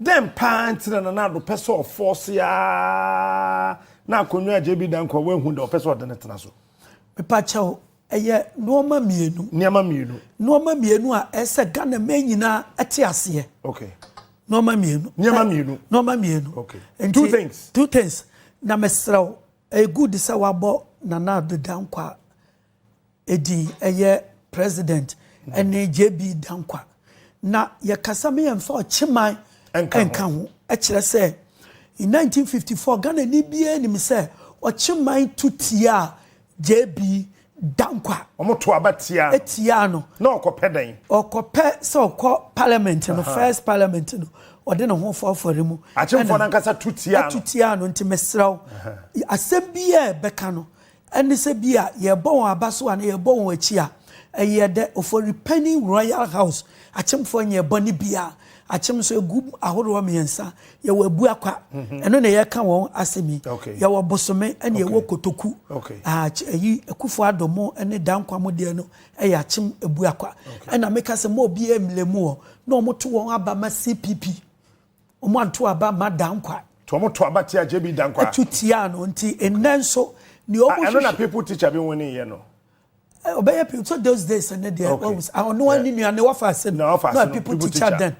Dɛn paa nti na Nana Addo pɛ sɛ ɔfɔɔse ara na akonnwa a JB Danquah wɔ ahu dɛ ɔpɛ sɛ ɔde no tena so? Mepakyɛw, ɛyɛ nnoɔma mmienu. Nneɛma mmienu. Nnoɔma mmienu a ɛsɛ sɛ Ghanaman nyinaa te aseɛ. Okay. Nnoɔma mmienu. Nneɛma mmienu. Nnoɔma mmienu. Okay. Nti, two things. Two things. Na mesrɛ wo, ɛyɛ good sɛ wabɔ Nana Addo Danquah edin yɛ President ne JB Dankwa. Na yɛkasa ma yɛmfa Ɔkyeman nka ho. Ɛkyerɛ sɛ in 1954 Ghanani biara nim sɛ Ɔkyeman tu tiaa JB Dankwa. Wɔn to aba tiaa. Etiaa no. Na ɔkɔpɛ dɛn? Ɔkɔpɛ sɛ ɔkɔ parliament no first parliament no ɔde ne ho fɔ afɔre mu. Akyemfoɔ no ankasa tu tiaa no. Tu tiaa no nti mesrɛ wo asɛm biara ɛbɛka no. Ɛne sɛ bi a yɛrebɔ wɔn aba so anaa yɛrebɔ wɔn akyi a, ɛyɛ dɛ. Ofori Panyin Royal House akyemfoɔ nyɛɛ bɔne biara. Akyem nso, ɛgu ahoroɔ mmiɛnsa. Yɛwɔ Abuakwa, ɛno na yɛreka wɔn asɛm yi. Yɛwɔ Bosome ɛna yɛwɔ Kotoku. Ayi, Akuffo Addo mo ne Danquah mo deɛ no yɛ akyem Abuakwa. Ɛna meka sɛ mma obiara mmlɛ mu hɔ na wɔto wɔn aba ma CPP. Wɔanto aba mma Dankwah. Nti wɔn to aba tia JB Dankwah. To tia no nti nnɛ nso nea wɔn hwehwɛ. Ɛno na people teacher bi nwene yɛ no. Ɔbɛyɛ people so those days ne deɛ wɔn sɛ ɔno wɔn ne nua ne wɔfa ase no na people teacher then.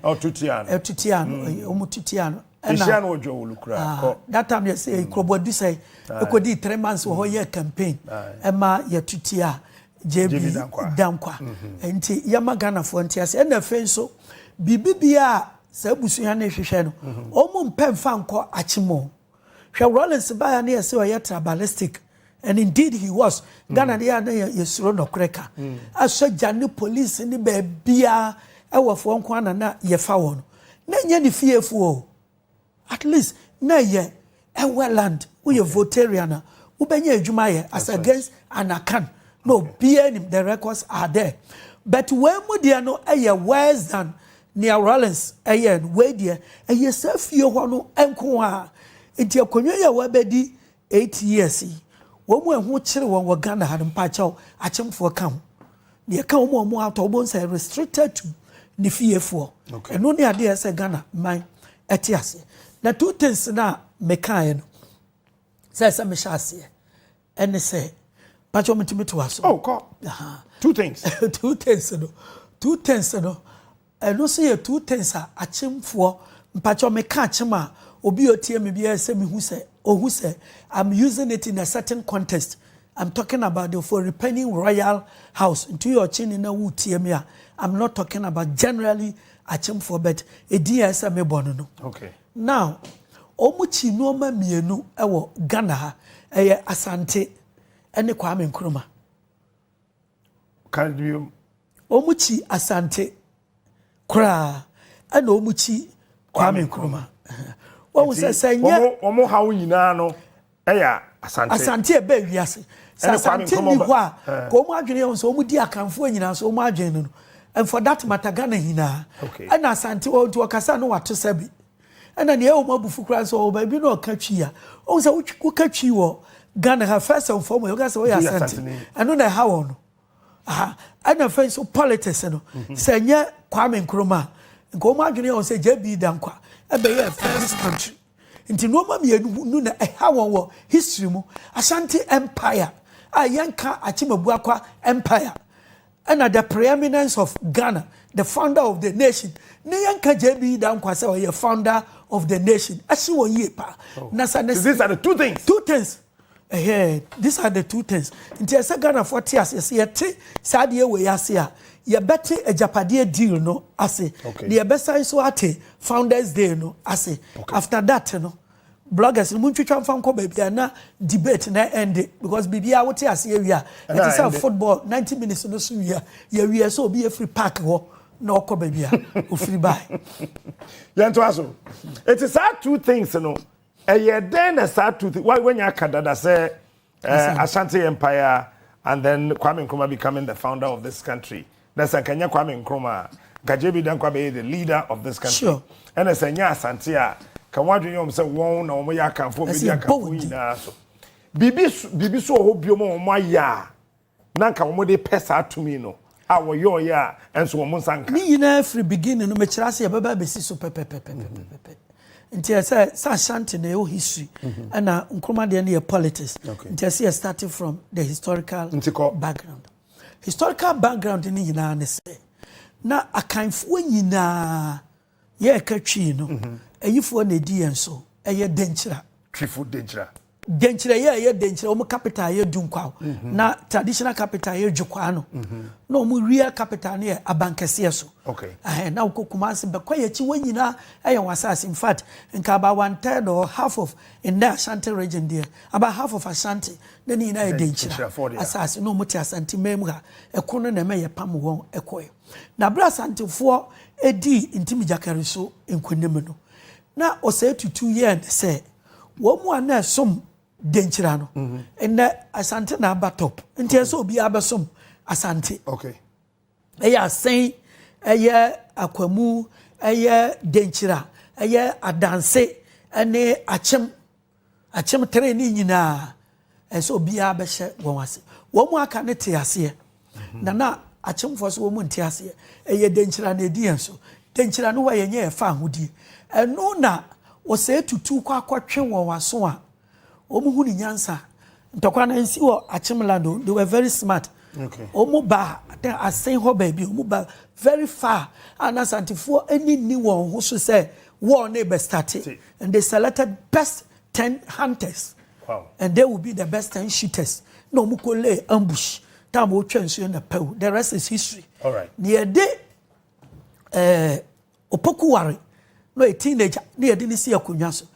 Ɔto tia no. Ɛto tia no wɔn to tia no. Ɛhyia no ɔdwa wɔlu kura kɔ. That time yɛ sɛ kurobɔ adusɛ ekodi three months wɔ hɔ yɛ campaign ɛma yɛ to tia JB Dankwa. Nti yɛma Ghanafoɔ nte ase. Ɛna afei nso, biribi biara a saa abusua no rehwehwɛ no, wɔn mpɛ mfa nkɔ akyem o. Hwɛ Rawlings baeɛ na yɛse ɔyɛ tribalistic and indeed he was. Ghana no yɛ a na yɛsuro nɔkorɛ ka. Asogya ne police ne baabiara ɛwɔfoɔ nko ara na na yɛfa wɔn. Na ɛnyɛ ne fiefoɔ o. At least na ɛyɛ ɛwɛ land woyɛ votarian a wobɛnya adwuma ayɛ as against an akan na obiara nim the records are there but wei mu deɛ no ɛyɛ worse than nea Rawlings ɛyɛ no wei deɛ ɛyɛ saa fie hɔ no nko a nti akonnwa yi a wabɛdi Eight years yi wɔn mu a ɛho kyere wɔn wɔ Ghana ha no, mpakyɛw, akyemfoɔ ka ho. Deɛ ɛka wɔn a wɔn atɔ wɔn sɛ restricted to ne fiefoɔ. Okay. Ɛno ne adeɛ sɛ Ghana man ɛte aseɛ. Na two things na mekaeɛ no sɛ ɛsɛ mehyɛ aseɛ ɛne sɛ mpakyɛw metumi to aso. Oh, kɔ. Two things. two things no two things no Ɛno nso yɛ two things a akyemfoɔ, mpakyɛw me ka akyem a obi a otie me biara sɛ me hu sɛ ohu sɛ I'm using it in a certain context, I'm talking about the Oforipanying Royal House, nti woyɛ ɔkyeni na wo tie me a I'm not talking about generally akyemfoɔ but edin a ɛsɛ me bɔ no no. Okay. Now, wɔn kyi nneɛma mmienu wɔ Ghana ha, ɛyɛ Asante ɛne Kwame Nkrumah. Ka biom. Wɔn kyi Asante koraa ɛna wɔn kyi Kwame Nkrumah. Wɔn sɛ sɛ nyɛ. Wɔn ha wo nyinaa no ɛyɛ Asante. Asante ɛbɛ ewiase. Sɛ Asante ni hɔ a, eh. ka wɔn adwene yɛn sɛ wɔn di Akanfoɔ nyinaa so wɔn adwene no no. And for that matter Ghana nyinaa. Okay. Ɛna Asante wɔn nti wɔkasa no wato sɛbi. Ɛna nea ɛwɔ mu abufu koraa sɛ ɔwɔ baabi na ɔka twi a ɔhu sɛ woka twi wɔ Ghana ha first and foremost woka sɛ ɔyɛ asante ɛno na ɛha wɔn no aha ɛna fɛn so politics no mhm. sɛ nyɛ Kwame Nkrumah nka wɔn adwene yɛ wɔn sɛ JB Dankwa ɛbɛyɛ first this country nti nneɛma mmienu no na ɛha wɔn wɔ history mu Ashanti empire a yɛnka Akyemagua kwa empire. Ɛna the preeminence of Ghana the founder of the nation ne yɛn ka JB Dankwa sɛ ɔyɛ founder of the nation ɛsi wɔ yie paa oh. na sa ne these are the two things two things ɛhɛn these are the two things nti ɛsɛ Ghana fo te ase ɛsɛ yɛte saa deɛ wɔ yɛ ase a yɛbɛte agyapadeɛ deal no ase na yɛbɛsan so ate founders day no ase after that no. Bloggers no montwitwa mfa nkɔ baabi a na debate na ɛnde because biribiara wote ase awie a ɛte sɛ football 90 minutes no so wie a yɛwie sɛ obi afiri park hɔ na ɔkɔ baabi a ofiri bae. Yɛntoa so. Eti saa two things no ɛyɛ dɛn na saa two things wanya aka dada sɛ Eh, Ashanti Empire and then Kwame Nkrumah becoming the founder of this country. Na sɛ nka nyɛ Kwame Nkrumah a, nka JB Dankwa bɛyɛ the leader of this country. Sure. Ɛna sɛ nyɛ Asante a, ka wɔn adwene yɛ wɔn sɛ wɔn na wɔn yɛ akanfo, wɔn bɛdi akanfo nyinaa so. Biribi biribi so wɔ hɔ biom a wɔn ayɛ a. na anka wɔn de pɛ saa tumi no a wɔyɔɔyɛ a ɛnso wɔn nsa nka. Ne nyinaa firi beginning no mekyerɛ ase yɛbɛba abɛsi so pɛpɛpɛpɛpɛpɛ nti ɛsɛ sɛ ashanti na ɛwɔ history ɛna nkroma deɛ no yɛ politics nti ɛsɛ yɛ starting from the historical background historical background ne nyinaa ne sɛ na akanfoɔ nyinaa Yɛreka Twi no, ayifoɔ na ɛdi yɛn so, ɛyɛ Denkyira. Twifo Denkyira. Denkyira yɛ ɛyɛ Denkyira, wɔn capital yɛ Dunkwaw, na traditional capital yɛ Dwokwaa no, na wɔn wia capital no yɛ Abankɛseɛ so. Okay. Ɛhɛn, na wokɔ Kumasi, bɛkɔ yɛn akyi, wɔn nyinaa ɛyɛ wɔn asase. In fact, nka about one third or half of nnɛ Ashanti region deɛ, about half of Ashanti, na ne nyinaa yɛ Denkyira asase, na wɔn te Asanteman mu ha. Ɛko no na ɛma yɛpam wɔn kɔɛ. Na bere a Asantefoɔ dii Ntimigyakari so nkonim no, na ɔsɛe tutu yɛɛ ne sɛ wɔn mu a na ɛsom Denkyira no, nnɛ Asante na aba top. Nti ɛyɛ sɛ obiara bɛsom Asante. Ɛyɛ Asen, ɛyɛ Akwamu, ɛyɛ Denkyira, ɛyɛ Adanse ne Akyem Akyem three ne nyinaa ɛsɛ obiara bɛhyɛ wɔn ase. Wɔn mu aka no te aseɛ na na akyemfoɔ so wɔn mu nte aseɛ. Ɛyɛ denkyira na ɛdi yɛn so. Denkyira no hɔ a yɛnyɛ yɛfa ahodie. Ɛno na ɔsɛe tutu kɔ akɔtwe wɔn aso a wɔn hu ne nyansa. Ntɔkwa no nsi wɔ akyem land o. They were very smart. Okay. Wɔn ba asen hɔ baabi wɔn ba very far a na asantefoɔ ani nni wɔn ho so sɛ wɔn ne bɛ starte. And they selected best ten hunters. Wow. And they will be the best ten shooters. Na wɔn kɔ lay ambush. Time wɔn twɛ nsuo na pɛw. The rest is history. All right. Na yɛ de ɛɛ eh, opoku ware na yɛ teenager na yɛ de ne si akonnwa so.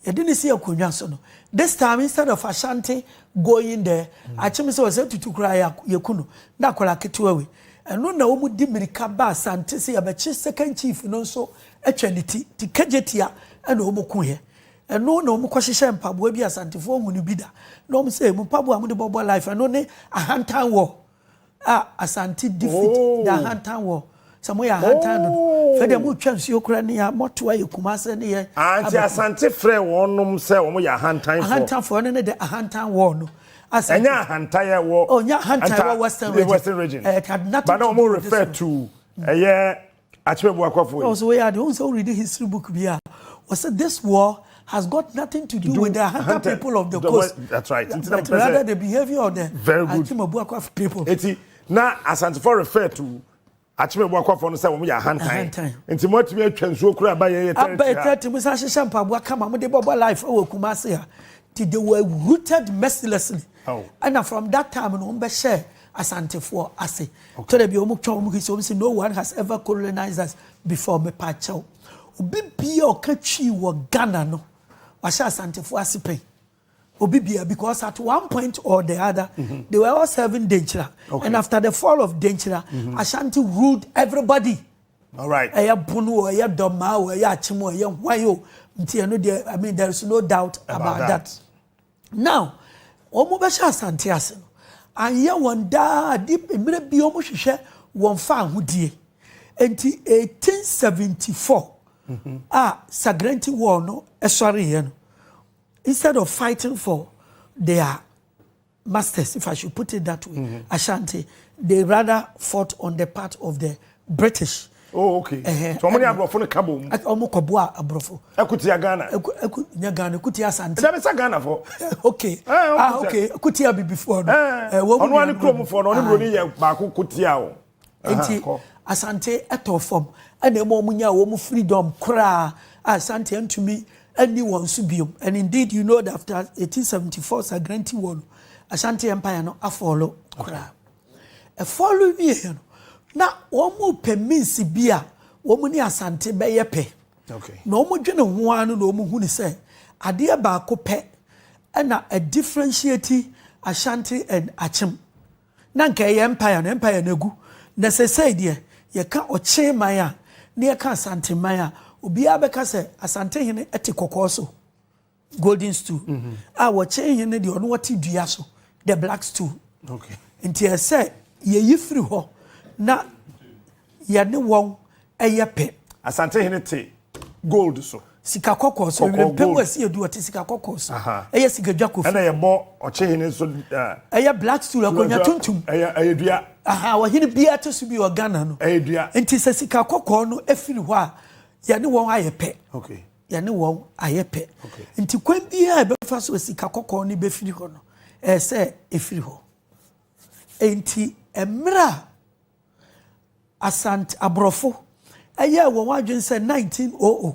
Yɛ de ne si akonnwa so no. This time instead of Ashanti going there, mm. akyem sɛ wɔsɛ tutu kura yɛ kunu na akɔla ketewa wei. Ɛno na wɔn di mirika ba Asante sɛ yɛbɛkye second chief no nso twa ne ti te kagyetia na wɔn ku yɛ ɛno na wɔn kɔ hyehyɛ mpaboa bi asantefoɔ hu no bi da na wɔn sɛ mu mpaboa a wɔn de bɔbɔ life ɛno ne ahantan wɔ a asante defeat oh. the ahantan wɔ sɛ mo yɛ ahantan no oh. fɛ deɛ mo twa nsuo kura ne yɛ mɔto ayɛ kumase ne yɛ anti ah, asante frɛ wɔnom sɛ wɔn yɛ ahantan fɔ ahantan fɔ ɛno ne de ahantan wɔ no ɛnyɛ ahantan yɛ wɔ ɔnyɛ oh, ahantan wɔ western region western region ɛɛ eh, had nothing to do with this one but na wɔn refer to ɛyɛ. Akyerɛ boakɔfoɔ yi. Ɔsɛ woyɛ ade wohu sɛ wo read history book bi a wɔsɛ this war has got nothing to do with the Ahanta people of the coast that's right but rather the behavior of the Akyema Buakwafoɔ people. Eti na Asantefoɔ refer to Akyema Buakwafoɔ no sɛ wɔn yɛ ahantan nti mo atumi atwa nsuo kura aba yɛn yɛ tɛrɛti ha. Aba yɛ tɛrɛti mo san hyehyɛ mpaboa kama mo de bɔbɔ life wɔ Kumasi ha ti they were rooted mercilessly ɛna oh. from that time no wɔn bɛ hyɛ. Asantefoɔ ase. Okay. Twerɛ bi wɔn twa wɔn kisi wɔn si no one has ever colonized us before me pa kyɛw. Obi bia ɔka twi wɔ Ghana no wahyɛ Asantefoɔ ase pɛn. Obi bia because at one point or the other mm -hmm. they were all serving Denkyira okay. and after the fall of Denkyira mm -hmm. Ashanti ruled everybody. All right. Ɛyɛ Bono o ɛyɛ Dɔmaa o ɛyɛ Akyem o ɛyɛ Hwan o nti ɛno deɛ I mean there is no doubt about, about that. that. Now wɔn bɛ hyɛ asante ase no anyɛ wɔn daa ade mmerɛ bi wɔn hwehwɛ wɔn fa ahodie nti 1874 mm-hmm. a Sagrenti war no ɛsɔre yɛ no instead of fighting for their masters if I should put it that way mm-hmm. Ashanti they rather fought on the part of the British. Oh, okay. Uh -huh. So, ọmọ ni aborɔfo no ka bɔ mu. Ọmọ kɔ bua aborɔfo. Ekutia Ghana. Eku eku nya Ghana ekutia Asante. Ẹja mi sa Ghana fo. Okay. Eh, ah, okay. Ekutia bibifo no. Eh, wɔn mu. Ɔno ani kurom fo no, ɔne buroni yɛ baako kutia o. Nti Asante ɛtɔ fam ɛna ɛma wɔn nya wɔn freedom koraa a Asante ntumi ɛni wɔn so biom and indeed you know that after 1874 Sagrenti war no Asante empire no afɔlo koraa. Okay. Ɛfɔre wieeɛ no, na wɔrepɛ means bi a wɔn ne Asante bɛyɛ pɛ. Na wɔdwene ho ara no na wɔhunu sɛ adeɛ baako pɛ na ɛdifferentiate Ashanti and Akyem. Na nka ɛyɛ empire no, empire no agu. Na seesei deɛ, yɛka Ɔkye man a, na yɛka Asante man a, obiara bɛka sɛ Asantehene te kɔkɔɔ so. Golden stool a wɔkyɛn hɛn no deɛ ɔno ɔte dua so the black stool nti ɛsɛ yɛyi firi hɔ na yɛne wɔn ɛyɛ pɛ. Asante hene te gold so. Sika kɔkɔɔ so ewira mpɛ mu ɛsi edu ɔte sika kɔkɔɔ so ɛyɛ sika dwa kofi. Ɛna yɛbɔ ɔkye hene nso. Ɛyɛ black stool akonnwa tuntum. Ɛyɛ ɛyɛ dua. Aha ɔhene biara te so bi wɔ Ghana no. Ɛyɛ dua. Nti sɛ sika kɔkɔɔ no efiri hɔ a yɛne wɔn ayɛ pɛ. Okay. yɛne wɔn ayɛ pɛ nti kwan biara ɛbɛfa so sika kɔkɔɔ no bɛfiri hɔ no ɛyɛ sɛ ɛfiri hɔ nti mmerɛ a asante aborɔfo ɛyɛ wɔn adwene sɛ 1900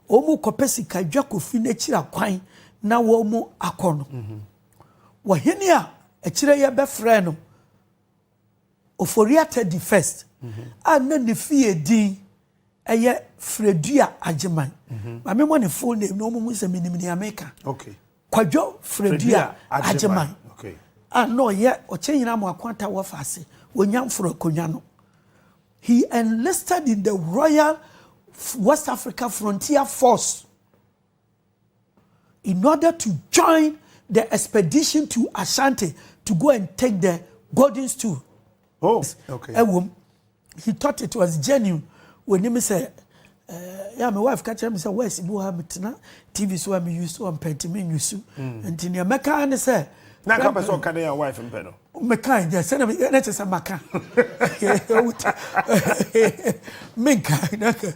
wɔn kɔpɛ sika dwa kofi n'akyiri akwan na wɔn akɔ no wɔhene a akyire yɛ bɛfrɛ no Ofori-Atta Teddy First a na ne fie din yɛ Fredua Agyeman. Ma me mmɔ ne full name na wɔnhu sɛ menim nea meka. Okay. Kwadwo Fredua Agyeman a na ɔyɛ Ɔkyɛnyina Amoako Atta Wɔfa ase wɔ Nyamforo Akonnwa no. He enlisted in the Royal West Africa Frontier Force. in order to join the expedition to Ashanti to go and take the golden stool. Oh, okay. Ɛwom, he thought it was genuine. When him say, eh, yeah, my wife catch him say, where's Ibu Hamitna? TV so I'm used to, I'm petty, me used to. And in America, and say, na ka pɛ sɛ ɔka ne yɛ wife mpɛ no Mekae dɛ, sɛnea meyɛ na ɛsɛ sɛ maka. Menka na nka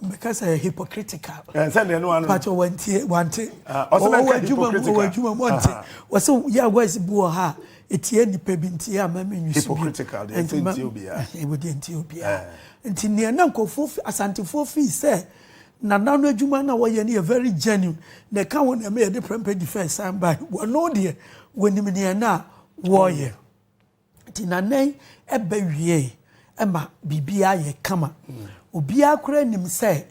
meka sɛ hypocritical. Eh, sɛnea no ano. Pato wantie, wante. Ah, ɔsɛ mɛka hypocritical. Ɔwɔ adwuma mu, ɔnte. Ah. Wɔsɛ yɛ voice bi wɔ ha etie nipa bi nti yɛ ama me nwi so bi. Hypocritical, deɛ ɛsɛ ntie obiara. Ɛwɔ deɛ ntie obiara. Eh. Nti nea na nkɔfoɔ asantefoɔ fii sɛ. Nana no adwuma na wɔyɛ no yɛ very genuine na ɛka ho nneɛma yɛde prɛmpɛ di fɛɛ san bae. Wɔno deɛ wɔnim nea na wɔreyɛ. Nti Nana yi ɛbɛ wiee ɛma biribiara yɛ kama. Obiara koraa nim sɛ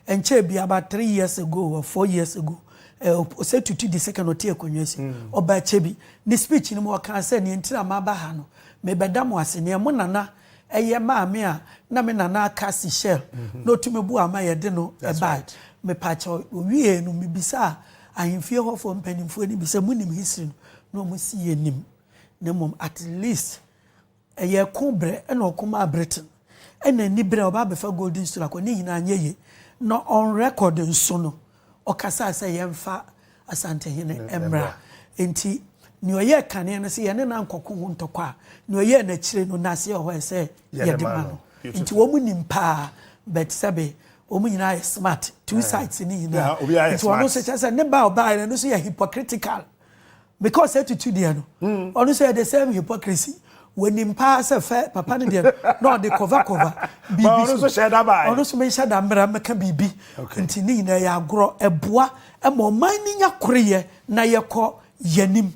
ɛnkyɛɛ biara about three years ago or four years ago ɛɛ ɔsɛ tutu di second ɔte akonnwa si. Ɔbaa kyɛ bi ne speech no mu ɔkaa sɛ nea nti na maba ha no mebɛda mo ase nea mo Nana Ɛyɛ maame a na me nana aka seashell na otumi boaa ma yɛde no bae. Mepakyɛw, owiei no, mibisaa ahemfie hɔfo mpanyimfo no bi sɛ, Munim history no? Na wɔse, Yennim, na mmom at least ɛyɛ ɛko bere na ɔko maa Britain, ɛnna anibere a ɔba abɛfa Golden Stool akɔ, ne nyinaa anyɛ yiye. Na on record nso no, ɔkasae sɛ yɛmfa Asantehene mmra. Enti nea ɔyɛɛ kane no, sɛ yɛne no ankɔko ho ntɔkwa a, nea ɔyɛɛ no akyire no, n'ase wɔ hɔ a, ɛsɛ sɛ yɛde ma no. Enti wɔnim paa, but sɛbe wɔn nyinaa yɛ smart, two sides no nyinaa. Nti ɔno nso kyerɛ sɛ ne ba a ɔbaeɛ no, ɛno nso yɛ hypocritical. because etutu deɛ no hmm. ɔno nso yɛ the same hypocrisy wɔnim paa sɛ fɛ papa no deɛ na ɔde kɔva kɔva biribi so ɔno nso menhyɛ da mmara mɛka biribi nti ne nyinaa yɛ agorɔ ɛboa ma ɔman no nya koreyɛ na yɛkɔ yɛnim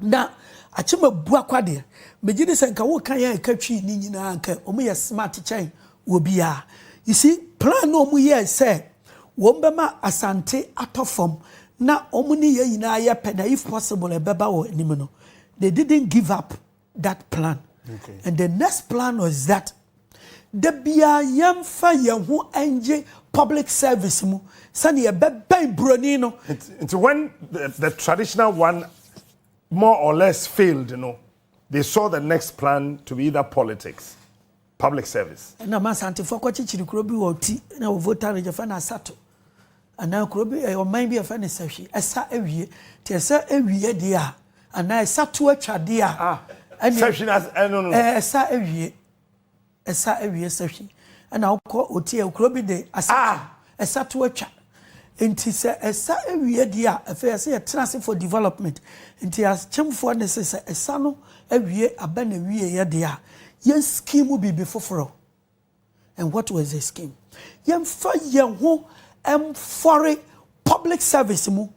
na akyema bu akwa deɛ megye ne sɛ nka woka yɛ a ɛka twii ne nyinaa nka ɔmo yɛ smart kyɛn wɔ biara you see plan na ɔmo yɛ sɛ Wɔn bɛma Asante atɔ fam na wɔn ne yɛn nyinaa ayɛ pɛ na if possible ɛbɛba wɔn anim no they didn't give up that plan okay. and the next plan was that da biara yɛmfa yɛn ho ngye public service mu sɛnea yɛbɛbɛn buroni no. nti when the, the traditional one more or less failed no they saw the next plan to be either politics. Public service. Ɛna ma Asantefoɔ kɔkyekyere kuro bi wɔ Ɔti na wɔ Volta Region yɛfrɛ no Asato anaa kuro bi ɛyɛ ɔman bi yɛfrɛ no Sahwi ɛsa awie nti ɛsɛ awie deɛ a anaa ɛsa to atwa deɛ a ah, ɛne Sahwi na ɛno no ɛsa awie ɛsa awie Sahwi ɛna wokɔ Ɔti ɛyɛ kuro bi de Asato ah. Ɛsa to atwa. Nti sɛ ɛsa awie deɛ a, afei ɛsɛ yɛtena ase for development. Nti akyemfoɔ nne se sɛ ɛsa no awie aba n'awieɛ deɛ a, yɛn scheme biribi foforɔ. And what was the scheme? Yɛmfa yɛn ho mfɔre public service mu.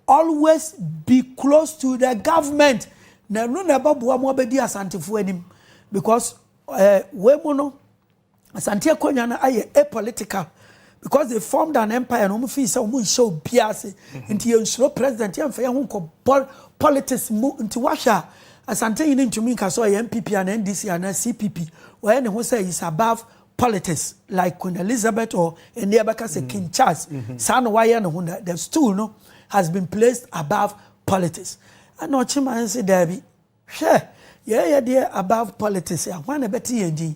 Always be close to the government. Na ɛno na ɛbɛboa mo abɛdi Asantefoɔ anim. Because eh, wei mu no, Asante akonwa no ayɛ a political because they formed an empire na wɔn fii sɛ wɔn nhyɛ obiara ase nti yɛn nsuro president yɛn nfa yɛn ho nkɔ bɔl politics mu nti wahwɛ a Asante yi ne ntumi nka sɛ ɔyɛ NPP ana NDC ana CPP ɔyɛ ne ho sɛ is above politics like Queen Elizabeth or ɛnni ɛbɛka sɛ King Charles saa na wayɛ ne ho the stool no has been placed above politics ɛna ɔkyema nse daabi. Hwɛ! Yɛɛ yɛ deɛ above politics a hwan na ɛbɛte yɛn din?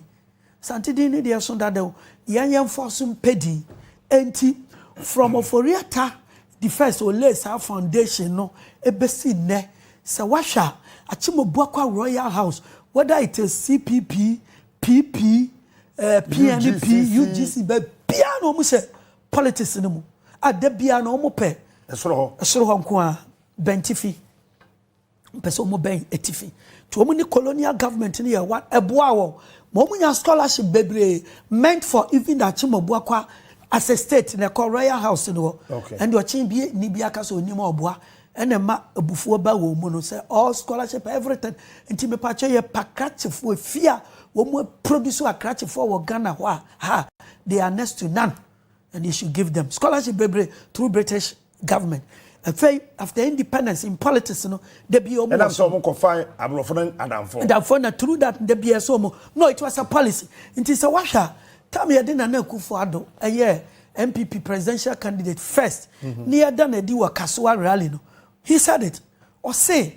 Asante din no deɛ ɛso dada o, yɛn yɛmfoɔ so mpɛ din. Enti from Ofori-Atta the first ɔlayed saa foundation no bɛsi nnɛ, sɛ woahwɛ a, Akyem-Obuakwa Royal House, whether it is CPP, PP, eh, PNP, UGC. UGC, baabiara na wɔn hyɛ politics no mu a da biara na wɔn pɛ Ɛsoro hɔ. ɛsoro hɔ nko ara, bɛntifi. Wɔpɛ sɛ wɔbɛn atifi. Nti wɔn ne colonial government no yɛ one. Ɛboaa wɔn ma wɔn nya scholarship bebree meant for even the Akyem-Abuakwa as a state na ɛkɔ Royal House no hɔ. Okay. Ɛnde ɔkyen bi ni bi aka sɛ onim a ɔboa. Ɛna ɛma abufuo ba wɔn mu no sɛ all scholarship everything. Nti mepatwɛ yɛ pa krakyefoɔ efi a wɔn produce akrakyefoɔ wɔ Ghana hɔ a ha they are next to none and you should give them scholarship bebree through British government afei after independence in politics no da bi ɔmo ɛnam sɛ ɔmo kɔ fa aborɔfo no adamfo adamfo na through that da bi ɛsɛ ɔmo no it was a policy nti sɛ wahwɛ a tam yɛde nana akufo ado ɛyɛ npp presidential candidate first mhm. ne yɛda na adi wɔ kasoa rally no he said it ɔse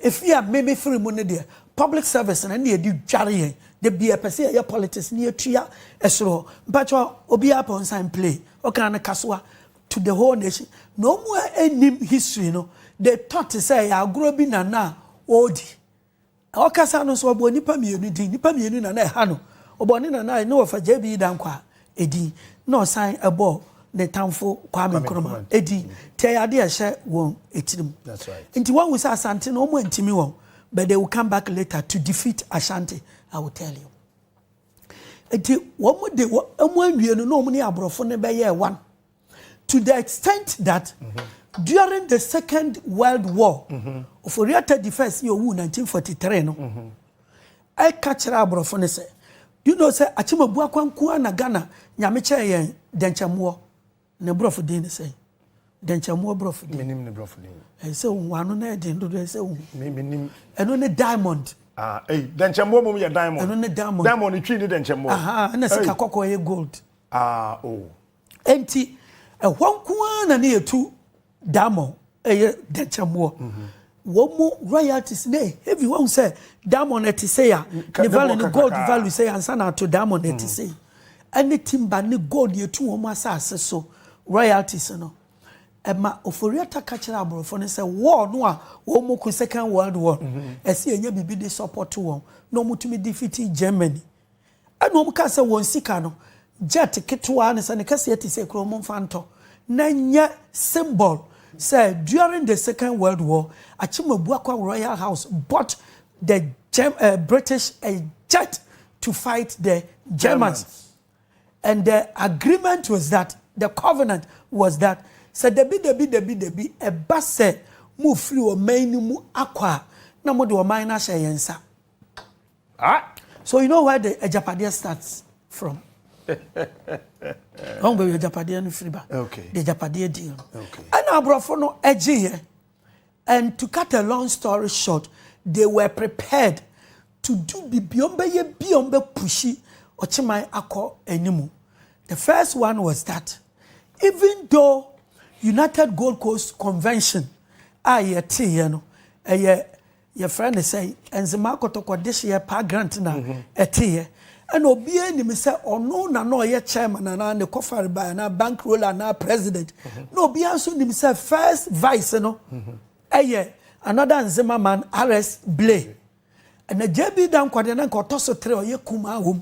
efi a mmemme firi mu ne deɛ public service na ne yɛde dware yɛn da bi ɛpɛ sɛ yɛyɛ politics ne yɛtua ɛsoro mpakyɛ obiara pɛ nsan play ɔkaa no kasoa to the whole nation na ɔmo a ɛnnim history no de tɔ te sɛ ɛyɛ agorɔ bi na na ɔredi ɔkasa no nso ɔbɔ nnipa mmienu din nnipa mmienu na na ɛha no ɔbɔ ne nana ne wɔfa JB Dankwa edin na ɔsan ɛbɔ ne tamfo Kwame Nkrumah edin nti ɛyɛ adeɛ ɛhyɛ wɔn etirim nti wɔn wusa Asante no wɔn ntumi wɔn but they will come back later to defeat Ashanti I will tell you. Nti wɔn de wɔn awie no na wɔn ne aborɔfo no bɛyɛɛ one to the extent that mm -hmm. during the second world war mm -hmm. Ofori-Atta the first yɛ owu 1943 no mm -hmm. ɛka kyerɛ aborɔfo no sɛ you know sɛ Akyemabu Akwankuo na Ghana nyame kyɛɛ yɛn dɛnkyɛmmoɔ Ne borɔfo din ne sɛn? Dɛnkyɛmmoa borɔfo din. Menim ne borɔfo din. Ɛyɛ sɛ ohu ano na ɛyɛ den dodo ɛyɛ sɛ ohu. Me menim. Ɛno ne diamond. Ah, ei, dɛnkyɛmmoa mmom yɛ diamond. Ɛno ne diamond. Diamond ne twi ne dɛnkyɛmmoa. Aha, ɛna sika kɔkɔɔ yɛ gold. Ah, oh. Enti, ɛhɔ nko ara na ne yɛtu. Diamond ɛyɛ dɛnkyɛmmoɔ wɔn mu royalties ne heavy wɔn sɛ diamond ɛte sɛ ya ne value ne gold value sɛ ya nsa na ato diamond ɛte sɛ yi ɛne timba ne gold yɛ tu wɔn asase so royalties no ɛma oforiata ka kyerɛ aborɔfo no sɛ war no a wɔn mu ko second world war ɛsɛ yɛnyɛ biribi de support wɔn na wɔn tumi defeat germany. Ɛna wɔn kaa sɛ wɔn sika no jet ketewaa ne sɛ ne kɛseɛ te sɛ kuro momfa ntɔ na nyɛ symbol sɛ during the second world war Akyemabuakwa royal house bought the Germ uh, British a jet to fight the Germans and the agreement was that the covenant was that sɛ dabi dabi dabi dabi ɛba sɛ mo firi ɔman no mu akɔ a na mo de ɔman no ahyɛ yɛn nsa. Ah! So you know where the agyapadeɛ starts from? Ɔn baabi agyapadeɛ no firi ba. Okay. The agyapadeɛ deal. Okay. Ɛna aborɔfo no ɛgye yɛ. And to cut a long story short, they were prepared to do bibi ɔn bɛyɛ bi ɔn bɛ pushi ɔkyeman akɔ animu. The first one was that even though United Gold Coast Convention a yɛte yɛ no ɛyɛ. Yɛfrɛ no sɛ Enzima Kotoko dehyeɛ paa grant na ɛteeɛ. Ɛna obiara nim sɛ ɔno na na ɔyɛ chairman anaa ne kɔfare by anaa bank roller anaa president. Na obiara nso nim sɛ first vice no ɛyɛ another Nzema man RS Blay. Ɛna JB Dankwah deɛ na nka ɔtɔ so tere ɔyɛ kumaa wɔ mu.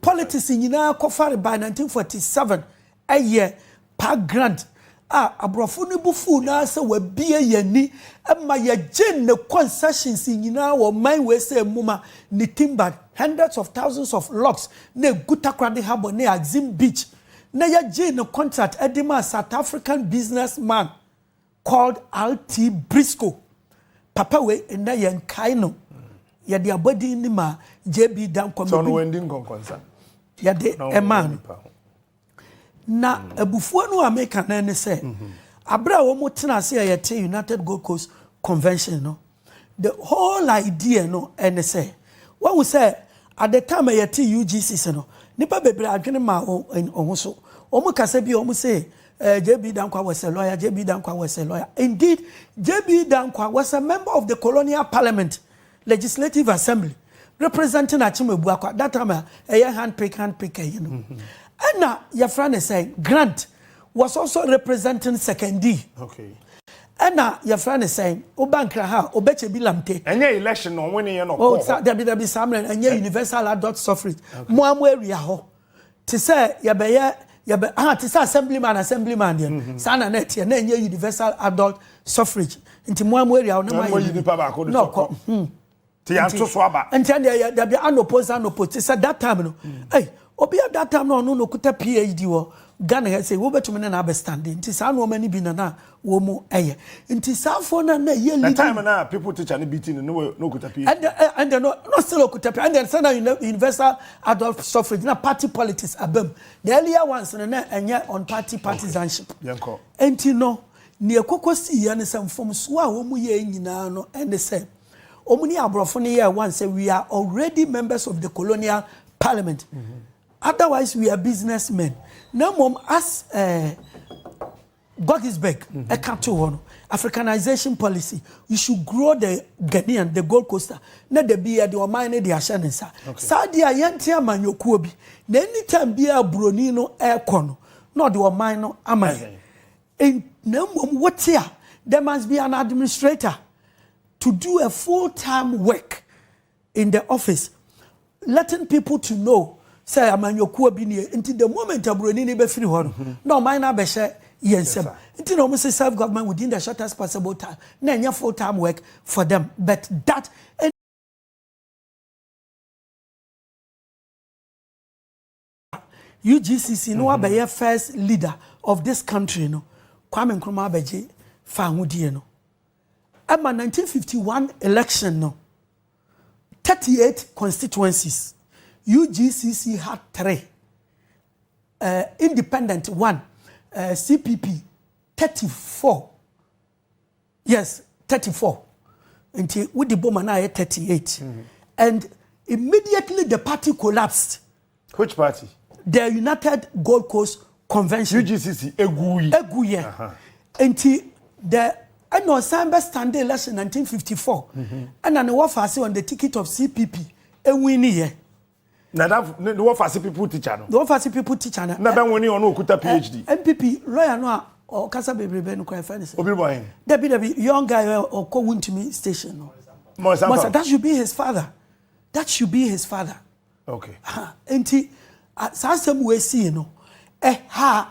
Politics nyinaa kɔfare by 1947 ɛyɛ Park Grant a aborɔfo no bo fuw no ara sɛ wabue yɛn ani ma yɛgyee ne concessions nyinaa wɔ ɔman wei sɛ mmuma ne timbered hundreds of thousands of logs na egu Takoradi Harbour ne Axim Beach na yɛgyee ne contract de maa South African businessman Called RT Briscoe, papa wei nnɛ yɛ nkae no, yɛde abɔdin no maa JB Danquah. Sɛ ɔno wandi nkɔnkɔnsa. Yɛde ɛmaa no. Na mm. abufuo no a meka no ne sɛ, mm-hmm. abere a wɔn tena ase a yɛte United Gold Coast Convention no, The whole idea no ne sɛ, wahu sɛ at the time a yɛte UGCC no, nnipa bebree adwene mmaa wɔn ho so. Wɔn kasa bi a wɔn se eh, JB Dankwa was a lawyer, JB Dankwa was a lawyer. Indeed, JB Dankwa was a member of the colonial parliament, legislative assembly, representing Akyem Abuakwa, that time a ɛyɛ handpick handpick ɛyɛ no. Ɛna yɛfrɛ ne sɛ grant. was also representing Sekondi. Okay. ɛna yɛfrɛ ne sɛn woba nkra ha obɛkyɛ bi lamte ɛnyɛ election na ɔwene yɛ no oh, sa, dabi dabi saa mmerɛ ɛnyɛ eh. universal adult suffrage okay. mo a mo awia hɔ te sɛ yɛbɛyɛ yɛbɛ ah te sɛ assemblyman assemblyman deɛ mm-hmm. saa na na ɛteɛ na ɛnyɛ universal adult suffrage nti mo a mo awia hɔ na mo ayɛ no na ɔkɔ Ti ya nto so aba. Nti ɛndeɛ yɛ dabi anopo nsa anopo ti sɛ that time no ei obi a that time no ɔno na okuta PhD wɔ Ghana ha sei wobɛtumi ne no abɛ stande nti saa nnoɔma no bi na na wɔn ɛyɛ nti saa foɔ no a na ɛyɛ leading. The time no a people teacher no beating no na okuta PhD. Ɛndeɛ eh, ɛndeɛ no na still okuta PhD ɛndeɛ sɛ na universal adult suffrage na party politics abam the earlier ones no na ɛnyɛ on party partisanship. Okay, yɛn kɔ. Nti no neɛ koko si yɛ no sɛ mfomsoɔ a wɔn yɛ nyinaa no ɛne sɛ. Wɔn ne aborɔfo no yɛɛ one sɛ we are already members of the colonial parliament otherwise we are business men na mmom as eh, Godisberg ɛka to hɔ no africanization policy you should grow the Ghanaian the Gold Coaster na da bi yɛde ɔman no de ahyɛ ne nsa saa deɛ a yɛnte amanyɔkuo bi na anytime biara buroni no ɛrekɔ no na ɔde ɔman no ama yɛn And na mmom wote a, there must be an administrator to do a full time work in the office letting people to know sɛ amanyɔkuo bi nie nti the moment aburoni ni bɛfiri hɔ no mm-hmm. na ɔman no abɛhyɛ yɛn nsam nti na wɔn sɛ self government within the shortest possible time na ɛnyɛ full time work for them but that. UGCC na wabɛyɛ first leader of this country no Kwame Nkrumah abɛgye fahodie no ɛma 1951 election no 38 constituencies UGCC had three uh, independent one uh, CPP 34 Yes, thirty four. Nti wodi boma na ayɛ thirty eight. Mm-hmm. And immediately the party collapsed. Which party? The United Gold Coast Convention. UGCC eguyi. Eguyi. Nti the ɛna ɔsan bɛ stand election nineteen fifty four. Mm-hmm. Ɛna ne wɔfa ase on the ticket of CPP ewin ni yɛ. Nadafo ne ne wɔfase pipu tikya no. Ne wɔfase pipu tikya no. Na bɛ nwene ɔno okuta PhD. NPP lɔya no a ɔkasa bebrebe no kora ɛfɛ ne sɛ. Obi bɔ hen? Dabi dabi young guy ɛ ɔkɔ wuntumi station no. Mɔsa Mɔsa that should be his father that should be his father. Okay. Nti saa asɛm wei sii no ɛha.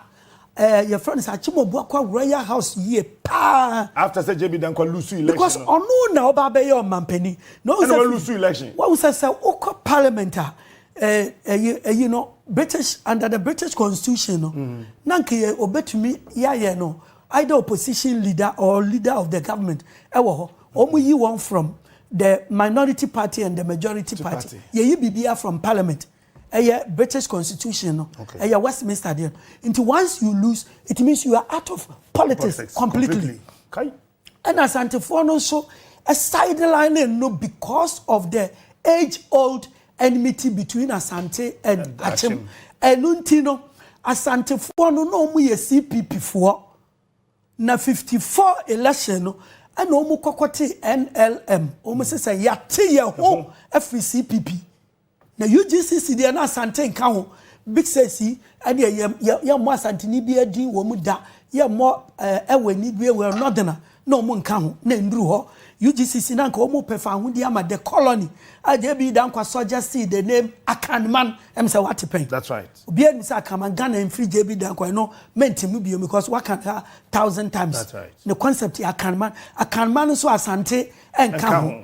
ɛɛ yɛfrɛ no sɛ akyemɔbu akɔ royal house yie paa. after sɛ jb dankwa lose election because ɔno na ɔba abɛyɛ ɔmampanin na ɔn sɛ lose election wɔn sɛ sɛ wokɔ parliament a ɛɛ ɛyi ɛyi no british under the british constitution no mm. na nka yɛ obetumi yɛayɛ no either opposition leader or leader of the government ɛwɔ hɔ wɔn yi wɔn from the minority party and the majority party yɛyi biribiara from parliament. ɛyɛ British constitution no ɛyɛ Westminster deɛ no nti once you lose it means you are out of politics, politics completely ɛna asantefoɔ no nso sideline no because of the age old enmity between asante and akyem ɛno nti no asantefoɔ no na wɔn yɛ cpp foɔ na fifty four election no ɛna wɔn kɔkɔ te nlm wɔn sɛ sɛ yate yɛ ho afiri cpp. Na UGCC deɛ na Asante nka ho, big six yi ɛdeɛ yɛ yɛ yɛ mmɔ Asanteni biara din wɔ mu da, yɛ mmɔ ɛɛ ɛwɔ ani bie wɔ Northerner na wɔn nka ho, na ɛnduru hɔ. UGCC na nka wɔn pɛ fawohodie ama the colony a JB Dankwa suggested the name Akanman, ɛm sɛ wate pɛn? That's right. Obiara nim sɛ Akanman, Ghana ɛmfiri JB Dankwa, ɛno mɛntim no biom because waka no ha thousand times. That's right. Ne concept yɛ Akanman, Akanman nso Asante ɛnka ho.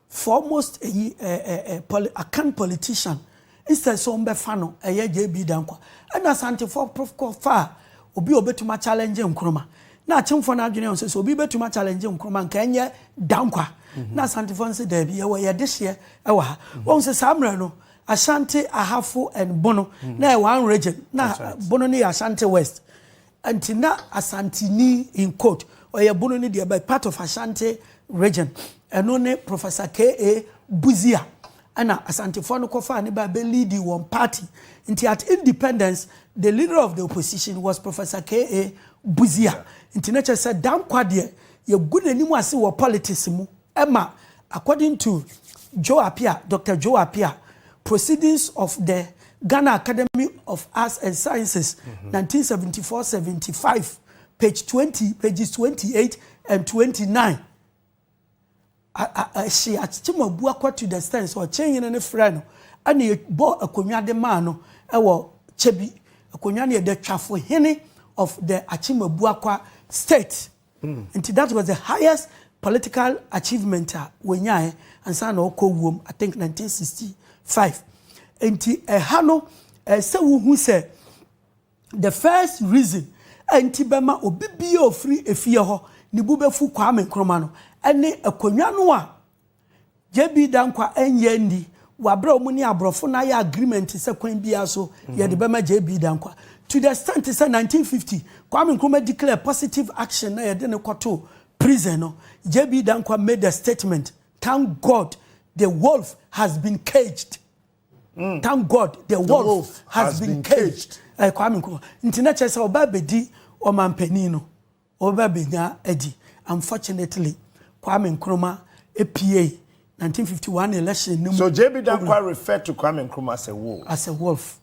Foremost eyi eh eh eh poli Akan politician instead sɛ wɔbɛfa no ɛyɛ JB Danquah ɛna Asantefoɔ prof kɔ faa obi a ɔbɛtumi a challenge Nkrumah na Akyemfoɔ no adwene sɛ sɛ obi bɛtumi a challenge Nkrumah nka ɛnyɛ Danquah na Asantefoɔ no sɛ daabi yɛwɔ yɛn dehyeɛ ɛwɔ ha wɔhu sɛ saa mmerɛ no Ashanti, Ahafo and Bono na ɛyɛ one region na Bono no yɛ Ashanti West Nti na Asanteni, in quote, Ɔyɛbono no deɛ but part of Ashanti region, ɛno ne Professor KA Busia ɛna Asantefoɔ no kɔfaa no baa bɛ leadi wɔn party. Nti at independence the leader of the opposition was Professor KA Busia. Nti na kyerɛ sɛ Danquah deɛ yɛgu n'anim ase wɔ politics mu. Ɛma, according to Joe Appiah, Doctor Joe Appiah, Proceedings of the Ghana Academy of Arts and Sciences, nineteen seventy four, seventy five, page twenty, pages twenty eight and twenty nine, a, a, a, ɛhye akyem abu akɔ to the extent sɛ ɔkye hene no frɛ no ɛna ɛbɔ akonnwa de maa no ɛwɔ kyɛ bi akonnwa no yɛ the twafo hene of the akyem abu akɔ state. Nti that was the highest political achievement a wɔnyaeɛ ansa na ɔkɔ wuom, I think 1965. Nti ɛha no, ɛɛ sɛ wohu sɛ the first reason a nti bɛma obi biara ofiri efie hɔ ne bu bɛfu Kwame Nkrumah no, ɛne akonnwa no a JB Danquah ɛnyɛ nni wɔ aberɛ a wɔn ne aborɔfo no ayɛ agreement sɛ kwan biara so yɛde bɛma JB Danquah to the extent sɛ 1950 Kwame Nkrumah declare positive action na yɛde no kɔtoo prison no JB Danquah made a statement thank God the wolf has been caged mm. thank God the, the wolf, wolf has, has been, been caged, caged. Uh, Kwame Nkrumah nti na kyerɛ sɛ ɔba abɛdi ɔmanpanin no Wɔbɛba abɛnya adi. Unfortunately, Kwame Nkrumah puei 1951 election no mu. So JB Danquah refer to Kwame Nkrumah as a wolf? As a wolf.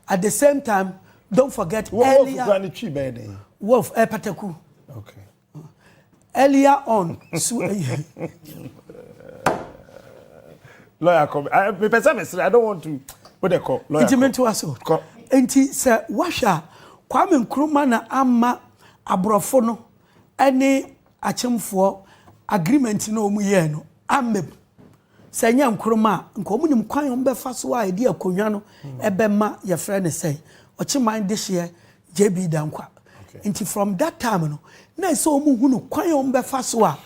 At the same time, don't forget earlier. Wolf kura ne twi bɛyɛ den. Wolf, eh, pataku. Okay. Earlier on, so. lawyer kɔ mepɛ sɛ mesrɛ i don't want to wo de kɔ lawyer nti mentoa so kɔ nti sɛ woahwɛ a kwame nkrumah na ama aborɔfo no ne akyemfoɔ agreement na wɔn yɛɛ no amem sɛ nyɛ nkrumah a nka wɔn nim kwan wɔn bɛfa so a yɛde akonnwa no ɛbɛma yɛfrɛ no sɛ ɔkyeman dehyeɛ jb dankwa nti from that time no na ɛsɛ wɔn hunu kwan wɔn bɛfa so a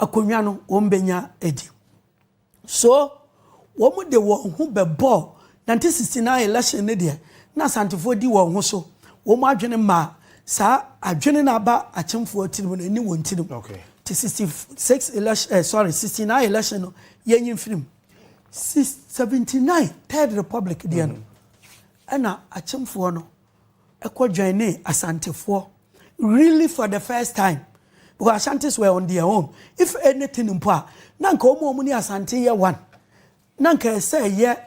akonnwa no wɔn bɛnya adi So wɔde wɔn ho bɛbɔɔ 1969 election no deɛ na Asantefoɔ di wɔn ho so, wɔn adwene maa saa adwene no aba Akyemfoɔ tirim no ɛne wɔn tirim nti 66 election eh, sorry 69 election no yɛnyi mfiri mu 79 third republic deɛ no ɛna Akyemfoɔ no kɔ joinee Asantefoɔ really for the first time because Ashantis were on their own if anything mpo a na nka wɔn a wɔn ne Asante yɛ one na nka ɛsɛ ɛyɛ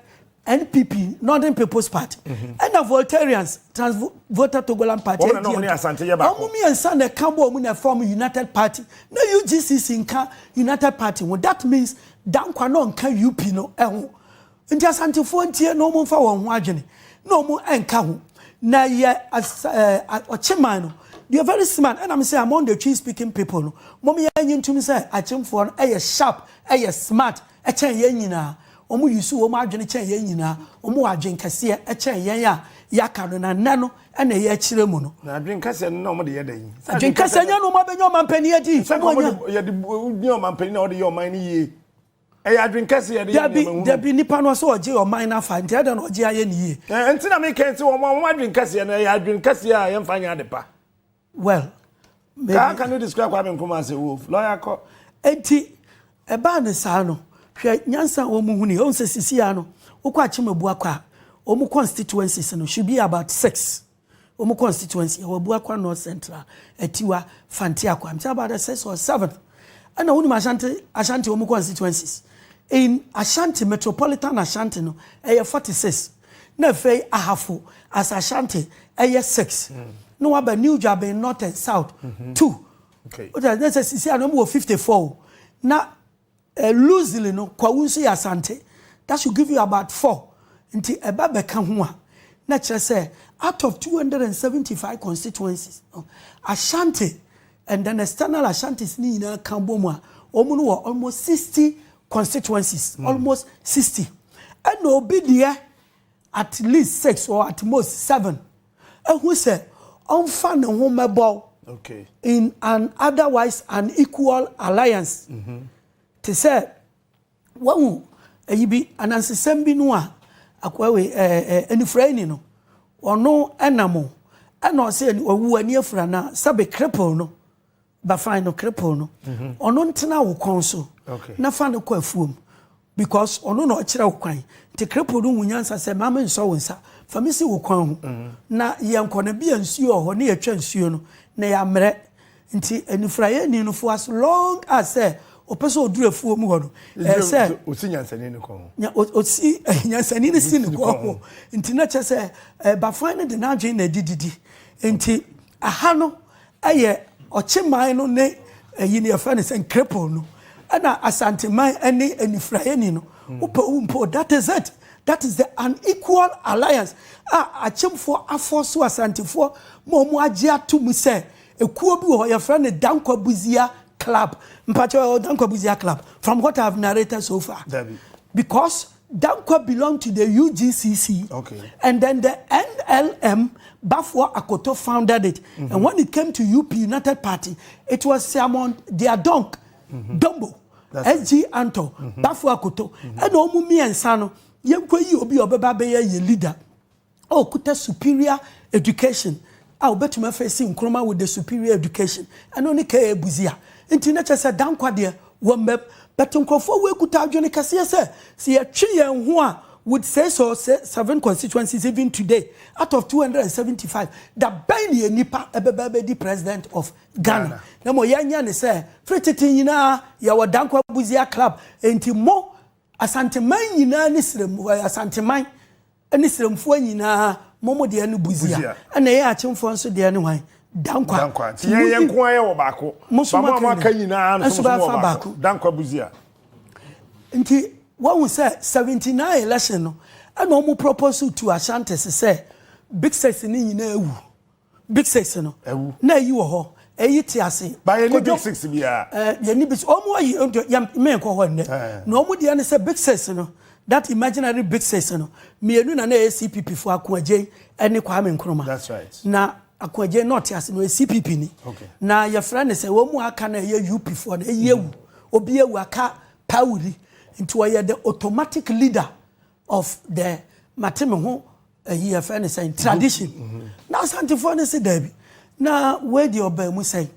NPP Northern People's Party mhm. ɛna Voltarians Trans Volta Togoland Party wɔn mmiɛnsa na ɛka bɔ wɔn na ɛfɔm United Party na UGCC nka United Party ho that means dankwa na ɔnka UP no ɛho. Nti Asantefoɔ ntie na wɔn nfa wɔn ho adwene na wɔn nka ho na yɛ eh, ɔkyeman no deɛ very smart ɛna me sɛ among the tree speaking people no mom yɛ nyi ntum sɛ akyemfoɔ no ɛyɛ sharp ɛyɛ smart ɛkyɛn yɛn nyinaa wɔn yi so wɔn adwene kyɛn yɛn nyinaa wɔn wɔ adwene kɛseɛ ɛkyɛn yɛn a yaka no na nnɛ no ɛna ɛyɛ akyerɛ mu no. na adwene kɛseɛ no na wɔn de yɛ dɛ yi. adwene kɛseɛ nyɛ no wɔn abɛnya ɔman panyin adi. sɛ wɔn de yɛ de nyɛ ɔman panyin na wɔn de yɛ ɔman no yie. Ɛyɛ adwene kɛse yɛde yɛ nneɛma hunu. Dabi, dabi, nipa no ɔsɛ ɔgye ɔman no afa, nti ɛdɛn na ɔgye ayɛ ne yie? Ɛɛ, nti na meka yi sɛ wɔn a wɔn adwene kɛseɛ no, ɛyɛ adwene kɛseɛ a yɛmfa nyɛ ade pa. Well, maybe. Kaa can you describe Kwame Nkrumah as a wolf? Lawyer kɔ. Nti, ɛbaa ne saa no, hwɛ nyansa a wɔn huni, wɔn sɛ sisi a no, wokɔ Akyem Abuakwa a, wɔn constituencies no should be about six. Wɔn constituency ɛwɔ Abuakwa North Central, Atiwa, Fante Akwa. I'm talking about the sixth or seventh. Ɛna wonim Ashanti Ashanti wɔn constituencies. In Ashanti metropolitan Ashanti no ɛyɛ 46. Na afei Ahafo as Ashanti ɛyɛ 6. Mm. Na waba New Dwaben North and South mm -hmm. 2. Okay. Wọ́n sɛ sisi a na wɔn wɔ 54 o. Na Loosely no, Kwawu nso yɛ Asante. That should give you about four. Nti ɛba bɛka ho a, na ɛkyerɛ sɛ out of two hundred and seventy five constituencies no, Ashanti and then external Ashantis no nyinaa ka bɔ mu a, wɔn no wɔ almost sixty constituencies. Almost sixty. Ɛna obi deɛ at least six or at most seven. ahu sɛ ɔmfa ne ho mmɛbɔw in an otherwise unequal alliance. Mhm. Te sɛ wahu ayi bi anansesɛm bi no a akoa wei ɛɛ ɛɛ anifuraeni no ɔno ɛnam o ɛna ɔsɛ ɔwu ani afura na sɛbe cripple no. Ba fine no kripple no ɔno ntena wo kɔn so na fa no kɔ afuom because ɔno na ɔkyerɛ wo kwan nti kripple no hu nyansa sɛ ma me nsɔ wo nsa fa me si wo kwan ho na yɛn kɔ na bia nsuo wɔ hɔ ne yɛtwa nsuo no na yɛammerɛ nti anifuraeɛ ni no fo as long as sɛ ɔpɛ sɛ ɔduru afuo mu hɔ no ɛɛ sɛ ɔsi nyansani no kɔn ho ɔsi nyansani no si no kɔn ho nti na kyɛ sɛ bafan no de n'adwene na ɛdi didi nti Aha no yɛ ɔkyeman no ne ayi no yɛfrɛ no sɛ Nkrepon no ɛna Asanteman ɛne Anifuraeni no wopɛ wo mpo that is it that is the unequal alliance a Akyemfoɔ afɔɔso Asantefoɔ ma ɔmo agye ato mu sɛ ekuo bi wɔ hɔ yɛfrɛ no Dankwa Buzia club mpakyɛw ɛwɔ Dankwa Buzia club from what I have narrated so far because Dankwa belong to the UGCC okay. and then the NLM Baffour Akoto founded it mm -hmm. and when it came to UP United Party it was Siamon Diadonk mm -hmm. Dombo SG Anto mm -hmm. Baffour Akoto ɛna ɔmo mmiɛnsa no yɛnkɔ yi obi a ɔbɛba bɛyɛ yɛ leader. a ɔkuta superior education a ɔbɛtumi afeesi Nkrumah with the superior education, ɛno ne KA Busia. Nti na kyerɛ sɛ Dankwa deɛ wammam. But nkurɔfoɔ wei kuta adwene kɛseɛ sɛ, sɛ yɛtwe yɛn ho a with six or seven constituencies even today out of 275, da bɛn na yɛn nipa bɛba abɛdi president of Ghana? Na mmom yɛnyɛ no sɛ, firi tete nyinaa yɛwɔ Dankwa Busia club, nti mo Asanteman nyinaa ne serɛm ɛɛ Asanteman ne serɛmfoɔ nyinaa mo mo deɛ ne Busia ɛna yɛn Akyemfoɔ nso deɛ ne hwan? Dankwa. Dankwa. Nti yɛn yɛn nko ara yɛwɔ baako. Mo so mo aka nyinaa. aka nyinaa nso mo wɔ baako. Dankwa Busia. Nti wɔn sɛ 79 election no ɛna wɔn propose to Ashantis sɛ Big Six ne nyinaa awu. Big six no. Ɛwu. Na eyi wɔ hɔ, eyi te ase. Ba yɛ ni big six bi a. Ɛɛ yɛ ni big six. Wɔn ayi ɛnjɛ yɛ mmɛn kɔ hɔ nnɛ. Na wɔn deɛ ne sɛ big six no that imaginary big six no mmienu na na ɛyɛ CPP fo Ako Adjei ɛne Kwame Nkrumah. That's right. Na Ako Adjei na ɔte ase no ɔyɛ CPP ni. Okay. Na yɛfrɛ ne sɛ wɔn mu aka na ɛyɛ UP fo no eyi ewu. Obi ewu aka pawuri nti ɔyɛ the automatic leader of the mate me ho ayi yɛfrɛ no sɛn tradition na asantefoɔ no se daabi na wei deɛ ɔbaa mu sɛn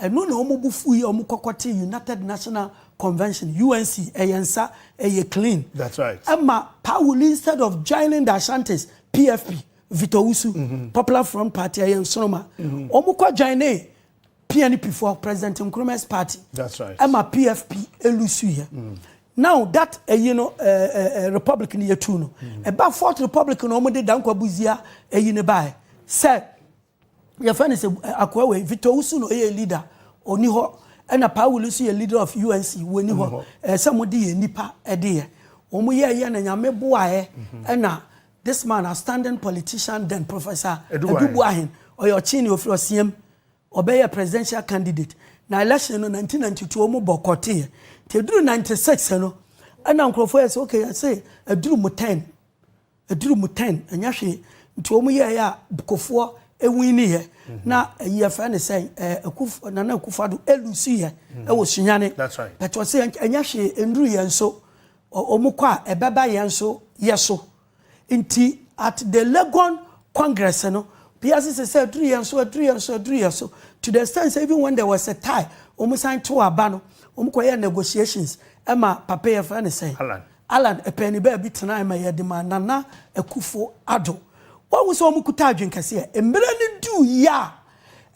ɛno na wɔn bo fu yi wɔn kɔkɔ te united national convention unc ɛyɛ nsa ɛyɛ clean that's right ɛma pawuli instead of joining the ashantis pfp Victor Usu, mm -hmm. Popular Front Party, ɛyɛ nsoroma. Mm -hmm. Wɔn kɔ join ne PNP foɔ President Nkrumah's party That's right. ɛma PFP elusu yɛ. Now that eyi no ɛɛ ɛɛ republic no yɛ tu no ɛba fourth republic no wɔn de Dankwa Buzia eyi no baɛ sɛ yɛfɛ no sɛ eh, akoa wei Victor Usu no ɛyɛ leader ɔni hɔ ɛna Paawuli nso yɛ leader of UNC wɔni hɔ ɛɛ sɛ wɔn de yɛ nipa ɛde yɛ wɔn yɛ yɛ na nyame boaɛ ɛna this man a standing politician then Professor Edubuahen. Edubuahen ɔyɛ ɔkyini ofiri ɔsiam ɔbɛyɛɛ presidential candidate na election no nineteen ninety two ɔmo bɔ kɔte yɛ nti eduru ninety six no ɛna nkorɔfoɔ yɛ sɛ okay yɛse eduru mu ten eduru mu ten ɛnyɛ hwee nti ɔmo yɛɛ yɛ a bukofoɔ ewini yɛ na ɛyi yɛfrɛ ne sɛ ɛɛ akuf nana akufado elusi yɛ ɛwɔ sunyane bɛtɔ se ɛnyɛ hwee enduru yɛn so ɔmo kɔ a ɛbɛba yɛn so yɛ so. Nti at the Legon congress no, obiara sese sɛ aduru yɛn so, aduru yɛn so, aduru yɛn so, to the extent sɛ even when there was a tie, wɔn san too aba no, wɔn kɔyɛɛ negotiations ma papa yɛfrɛ no sɛn? Allan. Allan pɛɛ ne baabi tenae ma yɛde maa Nana Akufo Addo. Woahu sɛ wɔn kuta adwene kɛseɛ. Mmerɛ no duuiɛ a,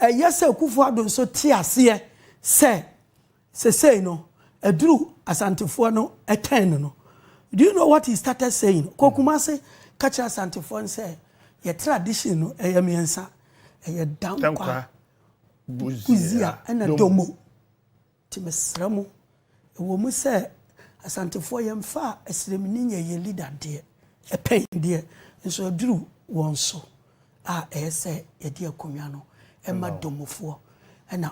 ɛyɛ sɛ Akufo Addo nso te aseɛ sɛ Sesei no aduru Asantefoɔ no turn no. Do you know what he started saying? Kɔ Kumase ka kyerɛ Asantefoɔ no sɛ yɛ tradition no ɛyɛ mmiɛnsa. Ɛyɛ Dankwa, Buzia ɛna Domo. Nti mesrɛ mo, ɛwɔ mu sɛ Asantefoɔ yɛmfa Asiremni nyɛ yɛn leader deɛ, ɛpɛn deɛ, nso aduru wɔn so a ɛyɛ sɛ yɛde akonnwa no ma Domofoɔ ɛna